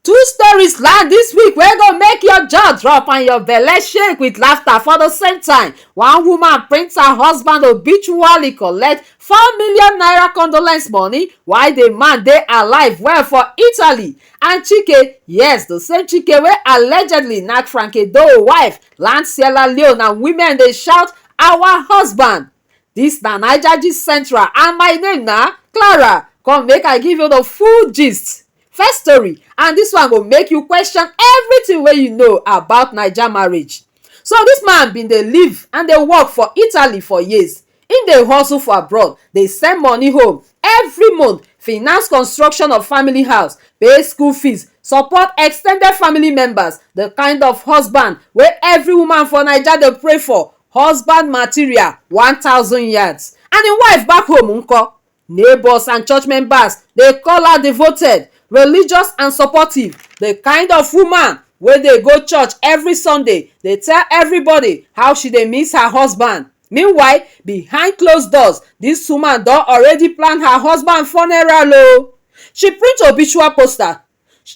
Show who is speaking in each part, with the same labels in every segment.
Speaker 1: Two stories land this week wey go make your jaw drop and your belle shake with laughter for the same time. One woman print her husband obituary collect four million naira condolence money while the man dey alive well for Italy. And Chike, yes, the same Chike wey allegedly knack Frankie Doe wife land Sierra Leone and women dey shout our husband. Dis na Naija gist central and my name na Clara. Come make I give you the full gist. First story and dis one go make you question everything wey you know about Naija marriage. So dis man bin dey live and dey work for Italy for years. Im dey hustle for abroad, dey send money home every month, finance construction of family house, pay school fees, support ex ten ded family members, the kind of husband wey every woman for Naija dey pray for husband material one thousand yards and im wife back home nko? Neighbours and church members dey call her devoted, religious and supportive, the kind of woman wey dey go church every Sunday dey tell everybody how she dey miss her husband. Meanwhile, behind closed doors, dis woman don already plan her husband funeral o. She print obituary poster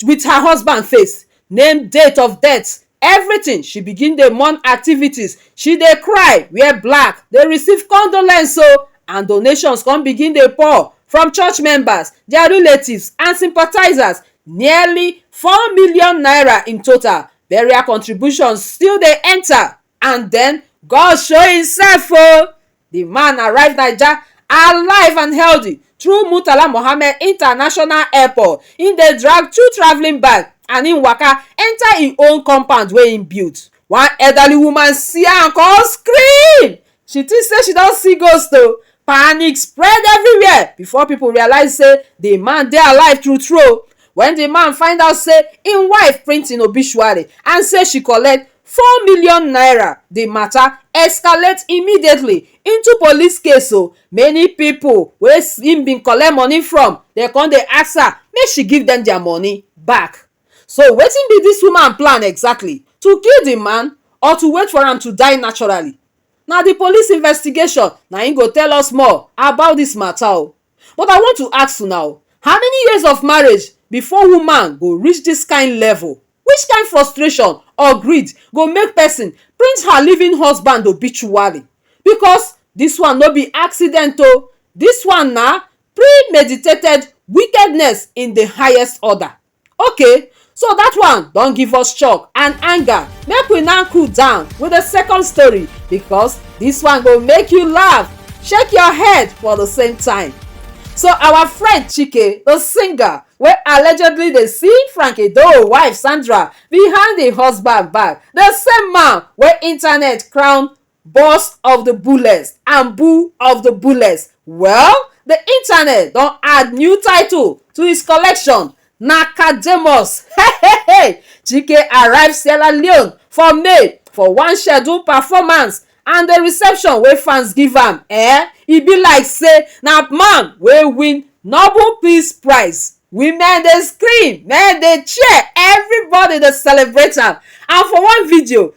Speaker 1: wit her husband face, name date of death, evritin, she begin dey mourn activities, she dey cry, wear black, dey receive condolence o and donations come begin dey pour from church members, dia relatives and sympathisers, nearly four million naira in total. Burial contributions still dey enta and den God show himself o! Di man arrive naija alive and healthy through Murtala Mohammed international airport, im dey drag two travelling bag and im waka enter im own compound wey im build. One elderly woman see am come scream, she think sey she don see ghost o! Panic spread everywhere before pipu realise sey di man dey alive true true o! Wen di man find out sey im wife print im obituary and sey she collect four million naira di mata escalate immediately into police case o many pipo wey im bin collect money from dem come dey ask her make she give dem dia money back so wetin be dis woman plan exactly to kill di man or to wait for am to die naturally na di police investigation na im go tell us more about dis mata o But I want to ask una o, how many years of marriage before woman go reach dis kind level? Which kind frustration or greed go make person print her living husband obituary? Because dis one no be accident o, dis one na premeditated wickedness in the highest order. Okay so that one don give us shock and anger make we now cool down with the second story because this one go make you laugh shake your head for the same time so our friend chike the singer wey allegedly dey see frank edoho wife sandra behind im husband back the same man wey internet crown burst of the bullets and boo of the bullets well the internet don add new title to his collection na Kademus hehehe Chike arrive Sierra Leone for May for one scheduled performance and the reception wey fans give am eh e be like say na man wey win Nobel Peace Prize women dey scream men dey cheer everybody dey celebrate am and for one video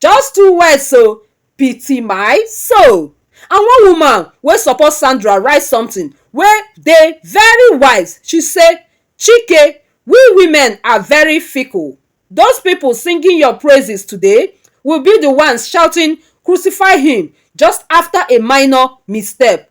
Speaker 1: Just two words o, pity my soul. And one woman wey support Sandra write something wey dey very wise, she say, Chike, we women are very fickle. Those people singing your praises today will be the ones shouting, Crucify him! just after a minor misstep.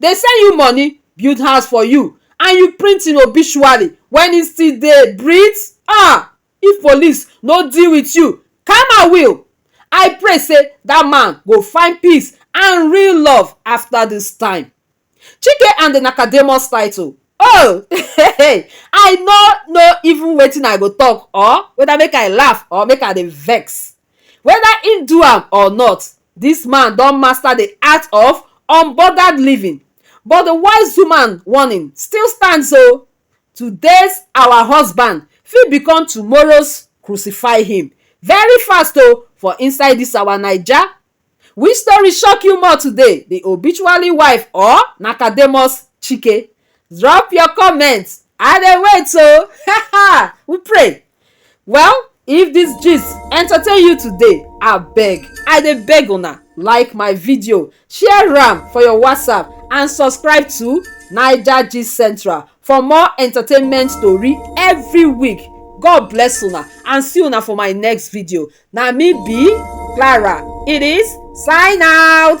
Speaker 1: dey send you money, build house for you and you print im obituary when he still dey breathe? Ah! If police no deal with you, karma will! I pray say that man go find peace and real love after this time. Chike and the Nakademus title Oh! I no know even wetin I go talk or whether make I laugh or make I dey vex. Whether im do am or not, Dis man don master the art of unbothered living but the wise woman warning still stands o, Today's our husband fit become tomorrow's crucify him very fast o for inside dis our Naija. Which story shock you more today, the obituary wife or Nakademus Chike? drop your comment i dey wait o oh. we pray well if this gist entertain you today abeg i dey beg una like my video share am for your whatsapp and subscribe to naija gist central for more entertainment tori every week god bless una and see una for my next video na me be clara it is sign out.